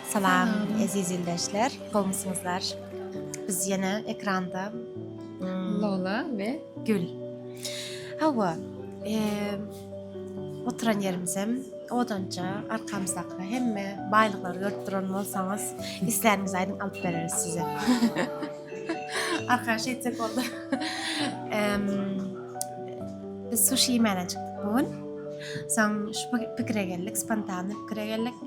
Salam eziz ildeşler, gowmysyňyzlar? Biz ýene ekranda Lola we Gül. Hawa, oturan ýerimizem odanja, arkamyzdaky hemme baýlyklary görüp duran bolsaňyz, isläniňizi aýdyň, alyp bereris size. Arkaş etsek boldy. Biz suşi iýmäne çykdyk bu gün. Soň şu pikire geldik, spontany pikire geldik.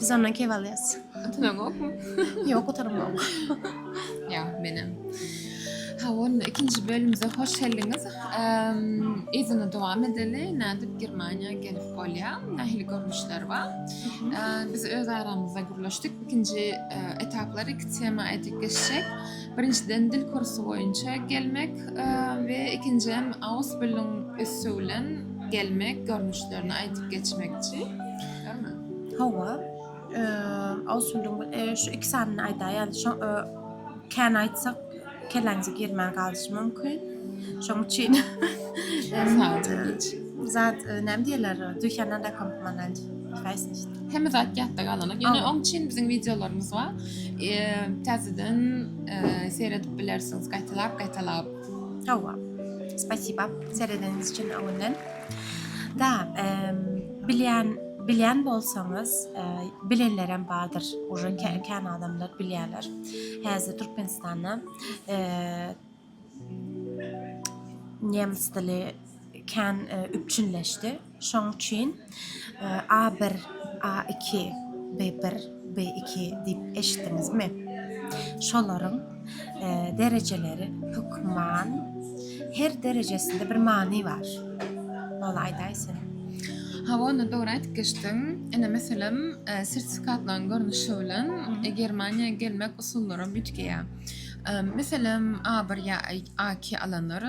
Biz ondan kep alýas. Gutaran gokmy? Ýok, gutaram gok. Ýa, menem. Ha, onda ikinji bölümimize hoş geldiňiz. Ehm, yzyna dowam edeli. Nädip Germaniýa gelip bolýa? Nähili görnüşler bar? Ehm, biz öz aramyzda gürleşdik. Ikinji e, etaplar iki tema aýdyp geçjek. Birinjiden dil kursy boýunça gelmek e, we ikinjiden Ausbildung üsti bilen gelmek görnüşlerini aýdyp geçmekçi. Dälmi? Hawa. Eee, şu iki sanyny aýdaýaly, şo kän aýtsak, kelläňize girmän galyşy mümkin. Şoň üçin zat näme diýerler, düýşänden rakam manent. Hemme zat ýatda galanyk. Ýöne oň üçin biziň wideolarymyz bar. Eee, täzeden seredip bilersiňiz, gaýtalap, gaýtalap. Hawa. Spasiba, seredeniňiz üçin öňünden. Da, eee. Bilýän bilýän bolsaňyz, e, bilenlerem bardyr. Uje kän adamlar bilýärler. Häzir Türkmenistanda e, nemes dili kän e, üpjünleşdi. Şoň üçin e, A1, A2, B1, B2 diýip eşitdiňizmi? Şolaryň derejeleri hökman her derejesinde bir many bar. Ol aýdaýsyn. Hawa, onda dogry aýdyp geçdiň. Ene meselem, e, sertifikatlaryň görnüşi bilen e, Germaniýa gelmek usullary bütgeýär. E, meselem, A1 ýa A2 alanlar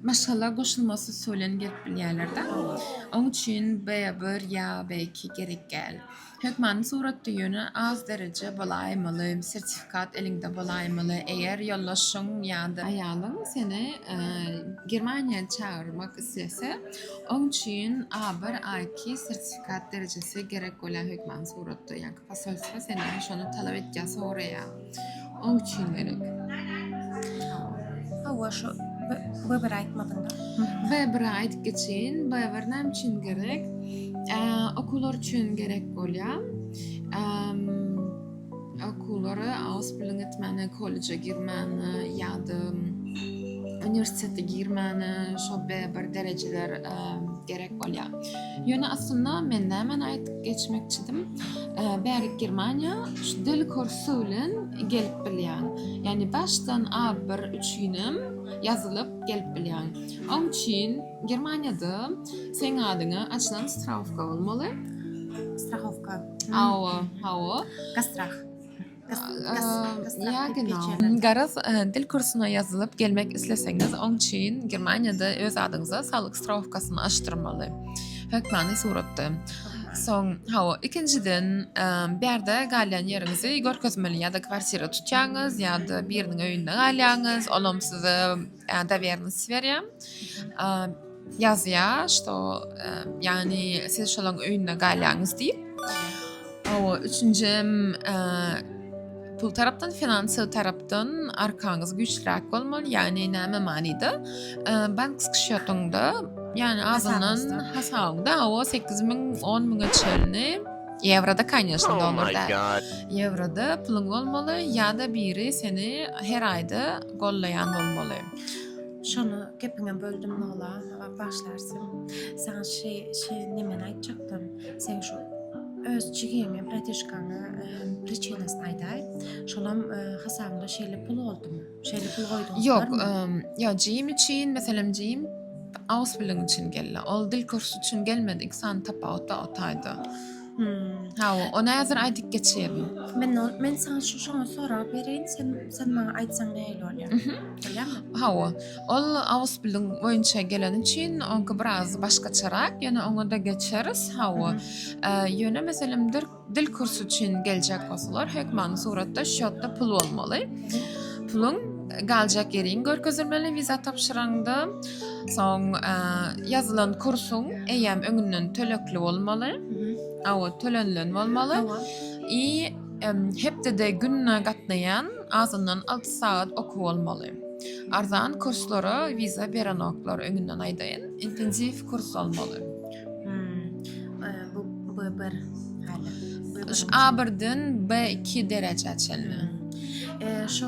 maşgala goşulmasy usuly bilen gelip bilýärler-de. Oň üçin B1 ýa B2 gerek däl. Hökmany suratda ýöne az dereje bolaýmaly, sertifikat eliňde bolaýmaly. Eger ýoldaşyň ýa-da aýalyň seni Germaniýa çagyrmak islese, oň üçin A1, A2 sertifikat derejesi gerek bolýar hökmany suratda. Ýa-da posolstwo senden şony talap edýär, soraýar. Oň üçin gerek. Hawa şu Weber aýtmadyňda. Weber aýdyp geçin. Weber näme üçin gerek? Okuwlar üçin gerek bolýar. Okuwlary Ausbildung etmäne, kolleje girmäne ýa-da uniwersitete girmäne şo Weber derejeler gerek bolýar. Ýöne aslynda men nämäni aýdyp geçmekçidim. Bärik Germaniýa şu dil kursy bilen gelip bilýän. Ýagny başdan A1 üçinem ýazylyp gelip bilýän. Oň üçin Germaniýada seň adyňa açylan strahowka bolmaly. Strahowka. Hawa, hawa. Gastrah. Garaz, dil kursuna ýazylyp gelmek isleseňiz, oň üçin Germaniýada öz adyňyza saglyk strahowkasyny açdyrmaly, hökmany suratda. Soň, hawa, ikinjiden, bärde galýan ýeriňizi görkezmeli, ýa-da kwartira tutýaňyz, ýa-da biriniň öýünde galýaňyz, olam size dowýernosdi berýär. Ýazýar, şto, ýagny siz şolaň öýünde galýaňyz diýip. Awa, üçünji hem pul tarapdan, finansiýa tarapdan arkaňyz güýçlüräk bolmaly, ýagny näme manyda? Bank skşýotyňda, ýagny azyndan hasabyňda awa 8000, 10000-e çenli Ýewroda, kanyýeşna, oh dollarda. Ýewroda puluň bolmaly ýa-da biri seni her aýda gollaýan bolmaly. Şony gepiňem böldüm Nola, bagyşlarsyň. Saňa şe şe nemeni aýtjakdym. Seň şu öz jigiňe, bratişkaňa priçinasyny aýdaý. Şolam hasabyňda şeýle pul boldumy? Şeýle pul goýduň. Ýok, ýa jigim üçin, meselem jigim ausbildung üçin geldi. Ol dil kursy üçin gelmedi. Iki sany tapawut bar o taýda. Hmm, hawa, ony häzir aýdyp geçerin. Men ol, men sana şu şoňa sorag bereýin, sen sen maňa aýtsaň nähili bolýar? Mhm. Bolýarmy? Hawa, ol awus bilim boýunça gelen üçin onka biraz başgaçarak, ýöne oňa da geçeris. Hawa. Ä, Ýöne meselem dil, dil kursy üçin geljek bolsalar, hökmany suratda şotda pul bolmaly. Puluň galjak ýeriň görkezilmeli wiza tapşyraňda. Soň ýazylan kursuň eýýäm öňünden tölegli bolmaly. A o tölenilen bolmaly. I hepdede gününe gatnaýan azyndan 6 sagat okuw bolmaly. Arzan kurslara wiza berenoklar öňünden aýdaýyn. Intensiw kurs bolmaly. A birden B2 derejä çenli. Şu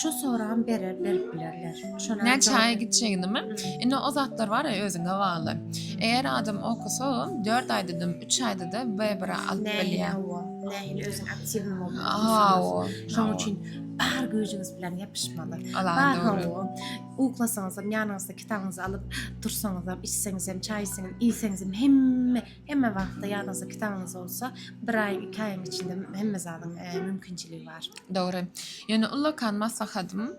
Şu soram berer berip bilerler. Şolar Ne çaýa gitjegini mi? Indi o zatlar bar ya özüňe bagly. Eger adam okusa, 4 aýda da, 3 aýda da bebra alyp bilýär. Nähil özüň aktiw bolup. Aw. Şonuň üçin bar güýjüňiz bilen ýapyşmaly. Bar howwa. Uklasaňyz hem ýanyňyzda kitabyňyzy alyp, dursaňyz hem, içseňiz hem, çaý içseňiz, iýseňiz hem hemme Hemme wagtda ýadyňyzda kitabyňyz bolsa, bir aý, iki aýyň içinde hemme zadyň e, mümkinçiligi bar. Dogry. Ýöne ullakan maslahatym,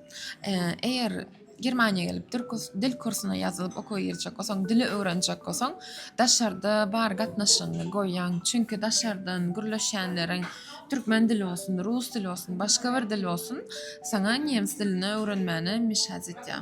e, eger Germaniýa gelip dil kurs- dil kursuna ýazylyp okuwa girjek bolsaň, dili öwrenjek bolsaň, daşarda bar gatnaşygyňy goýaň. Çünki daşardan gürleşýänleriň türkmen dili bolsun, rus dili bolsun, başga bir dil bolsun, saňa nemes dilini öwrenmäne meşhät etýär.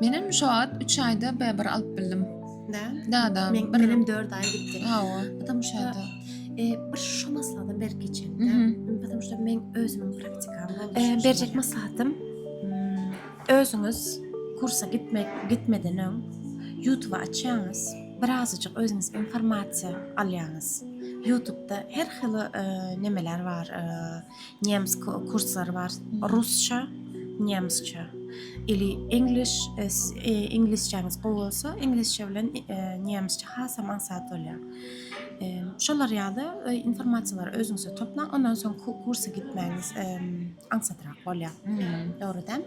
Menem şu wagt 3 aýda bäbär alyp bildim. Da? Da da. Men, bir... Menem 4 aý gitdi. Hawa. Adam şu aýda. E, bir şu maslahatdan berip geçelim. Da. Adam şu men özümiň praktikam boldu. E, berjek maslahatym hmm, özüňiz kursa gitmek gitmeden öň YouTube açýaňyz. Birazajyk özüňiz informasiýa alýaňyz. YouTube-da her hili e, nemeler bar. E, nemes kurslary bar rusça nemesçe ili english inglizçäňiz gowy bolsa inglizçe bilen nemesçe hasam aňsat bolýar şolar ýaly informasiýalary özüňize toplaň ondan soň kursa gitmäňiz aňsatrak bolýar dogry däl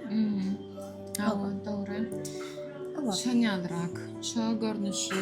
dogry şoň ýalyrak şo görnüşi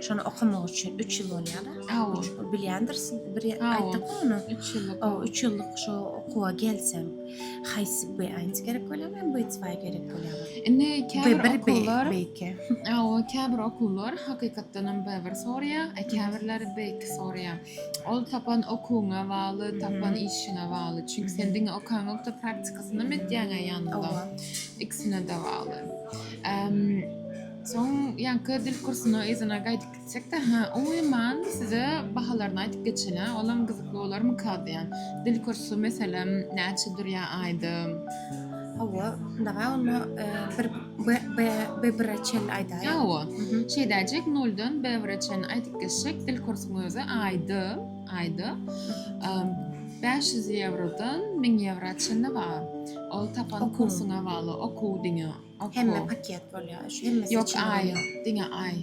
Şony okamak üçin üç ýyl bolýar. Hawa. Bilýändirsiň, bir aýtdyk ony. Üç ýyllyk. O, üç ýyllyk şu okuwa gelseň, haýsy B1 gerek bolýar, men B2 gerek bolýar. Indi käbir okuwlar B2. Hawa, käbir okuwlar hakykatdan hem B1 soraýar, a käbirleri B2 soraýar. Ol tapan okuwyňa bagly, tapan işiňe bagly. Çünki sen diňe okanlykda praktikasyny etýäňä ýanynda. Ikisine de bagly. Soň ýaňky dil kursyna yzyna gaýdyp gitsekde, hä, umuman size bahalaryny aýdyp geçelä, olam gyzykly bolarmyka diýýän. Dil kursy meselem näçe durýa aýdym? Hawa, şunda-ha onda bir B-bire çenli aýdaýa. Hawa. Şeýdäýjek, noldan B-bire çenli aýdyp geçsek, dil kursynyň özi aýdym, aýdym bäş ýüz ýewrodan müň ýewra çenli bar. Ol tapan kursyňa bagly, okuw diňe. Hemme paket bolýar. Şu hemmesi Yok, içinde ay, bolýar. diňe ay.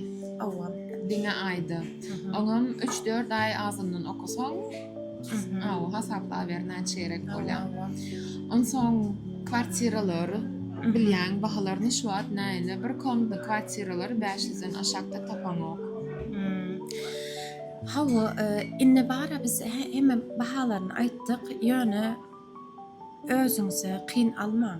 Owa. Diňe ayda. Mhm. Oňam 3-4 ay azyndan okasaň, Mhm. aw, hasaplaber näçe gerek bolýar. Owa, owa. Onsoň kwartiralar Mhm. bilýän bahalaryny şu wagt näýle bir komda kwartiralar 500-den aşakda tapaňok. Hmm. Hawa, e, indi bara biz he- hemme bahalaryny aýtdyk, ýöne özüňize kyn almaň.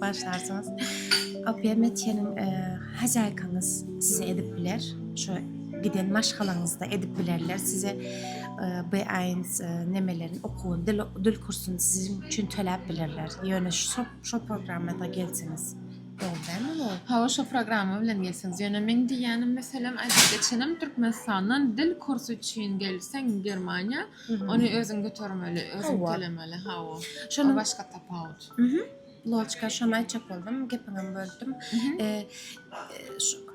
Başlarsyňyz. Opiýa Metjeniň hajaýkaňyz size edip biler. Şu giden maşgalaňyzda edip bilerler. Size B-aýns nemelerini okuwyny, dil, dil kursuny siziň üçin töläp bilerler. Ýöne şu, şu programmada gelseňiz. Dogry dälmi bu? Hawa, şu programma bilen gelseňiz. Ýöne meň diýýänim, meselem, aýdyp geçenim, Türkmenistandan dil kursy üçin gelseň Germaniýa, Ony özüň götermeli, özüň tölemeli, hawa. Şonuň başga tapawut. Loçka, şony aýtjak boldum, gepiňem böldüm.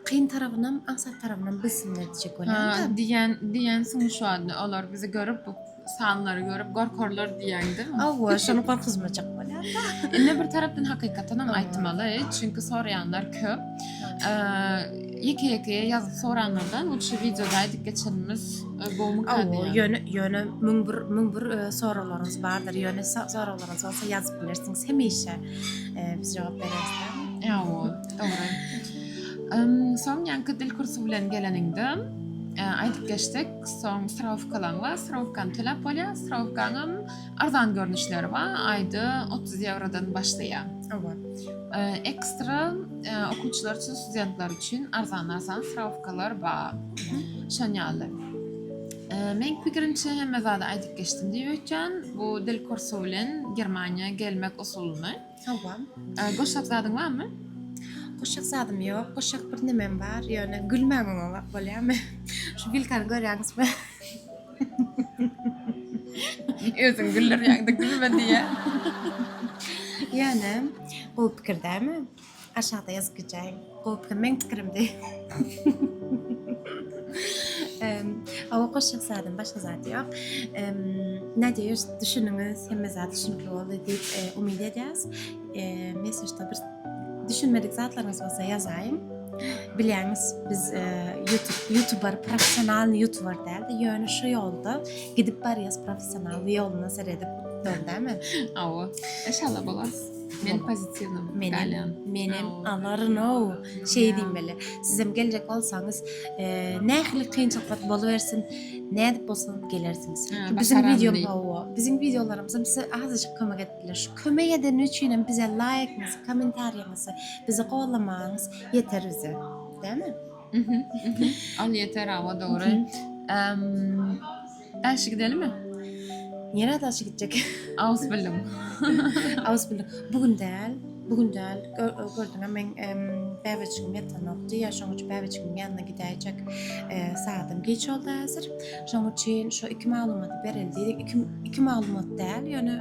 Kyn tarabynam, aňsat tarabynam bilsin diýjek bolýan-da. Diýen, diýensiň şu anda. Olar bizi görüp, bu sanlary görüp gorkarlar diýäňdi. Hawa, şony gorkuzmajak bolýar-da. Indi bir tarapdan hakykatan hem aýtmaly, çünki soraýanlar köp. Ýeke-ýeke ýazyp soranlardan, lutşy wideoda aýdyp geçenimiz Ýöne, ýöne müň bir, müň bir soraglaryňyz bardyr. Ýöne soraglaryňyz bolsa ýazyp bilersiňiz. Hemişe biz jogap bereriz. Ýa-o, dogry. Soň ýaňky dil kursy bilen geleniňde, aýdyp geçsek, soň strawkalaň bar, strawkany töläp bolýar, strawkaňam Arzan görnüşleri bar, aýda 30 ýewrodan başlaýar. Owa. Ekstra okuwçylar üçin, studentler üçin arzan-arzan strawkalar bar. Şon ýaly. Men pikirimçe hemme zady aýdyp geçdim diýip öýtýän. Bu dil kursy bilen Germaniýa gelmek usulyny. Owa. Goşak zadyň barmy? Goşak zadym ýok. Goşak birnemem bar, ýöne gülmän bolýarmy? Şu bilkany görýäňizmi? Özüň güldürýäňde gülme diýýä. Ýöne gowy pikir dälmi? Aşakda ýazyp geçäýiň. Gowy pikir meň pikirim diý. Hawa goşjak zadym başga zat ýok. Nadýeş düşüniňiz hemme zat düşünikli boldy diýip umyt edýäs. Eee, mesajda bir düşünmedik zatlaryňyz bolsa ýazaýyň. Bilýäňiz, biz e, YouTube YouTuber professionalny YouTuber däldi. Ýöne şu ýolda gidip barýas professional ýoluna seredip döndämi? Awa. Inşallah bolar. Men pozitiwny Menem, galýan. menem alaryn o. Şey diýmeli. Siz hem geljek bolsaňyz, e, nähili kynçylyklar bolubersin, nädip bolsa gelersiňiz. Ha, Çünki Biziň başaran video diýip. hawa, biziň videolarymyz hem size azajyk kömek Şu kömek edeni üçinem bize laýkňyzy kommentariýaňyzy bizi gollamaňyz ýeter bize dämi. Al ýeter awa dogry. Emm Äşi gidelimi? Ýene daşy gitjek. Aus bildim. Aus bildim. Bu gün däl. Bu gün däl. Gördüňä men bäbeçigim ýatanokdy. Ýa şoň üçin bäbeçigiň ýanyna gidäýjek. Saatym geç oldy häzir. Şoň üçin şu iki maglumaty bereli diýdik. Iki, iki maglumat däl, ýöne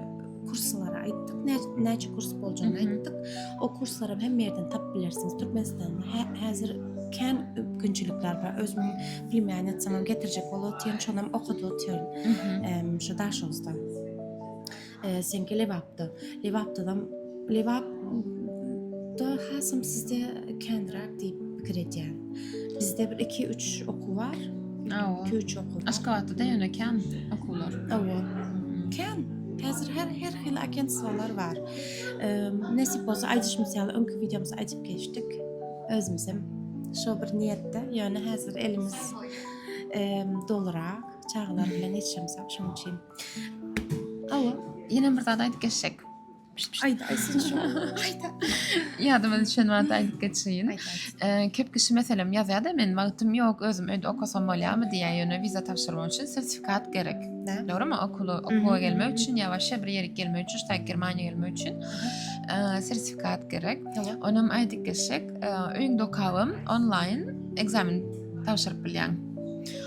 kurslary aýtdyk. Näçe kurs boljagyny aýtdyk. O kurslary hem ýerden tapyp bilersiňiz. Türkmenistanda hä, häzir kän mümkinçilikler bar. Özümiň plimýanetsamam getirjek bolup otyryn, şonam okady otyryn. Ehm, şu Daşoguzda. Seňki Lebapda. Lebapdadam Lebap da hasam sizde kendirak diýip pikir edýän. Bizde bir 2-3 okuw bar. Awa. 2-3 okuw. Aşgabatda ýöne kän okuwlar. Awa. Kän. Häzir her her hil agentstwalar bar. Nesip bolsa aýdyş misaly öňki videomyzda aýdyp geçdik. Özümiz hem şo bir niýetde, ýöne häzir elimiz dolurak, çagalar bilen ýetişemizok şonuň üçin. Hawa, ýene bir zat aýdyp geçsek. Aýda, aýtsyn şu. Aýda. Ýadyma düşen wagty aýdyp geçeýin. Köp kişi meselem ýazýar-da, men wagtym ýok, özüm öýde okasam bolýarmy diýýär, ýöne wiza tabşyrmak üçin sertifikat gerek. Dogrumy? Okuly okuwa gelmek üçin ýa başga bir ýere gelmek üçin, ştaý Germaniýa gelmek üçin sertifikat gerek. Onam aýdyp geçsek, öýüňde okabam onlaýn ekzamen tabşyryp bilýäň.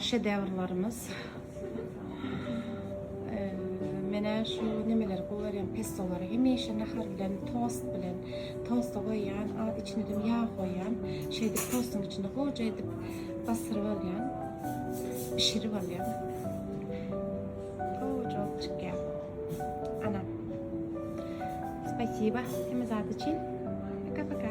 Şedewrlarymyz. Menä şu nemeleri gowy görýän pestolary hemişe nahar bilen, tost bilen, tosta goýýan, az içine dem ýag goýýan. Şeýdip tostuň içinde goja edip basyryp alýan. Bişirip alýan. Goja bolup çykýar. Ana. Spasiba hemme zat üçin. Paka-paka.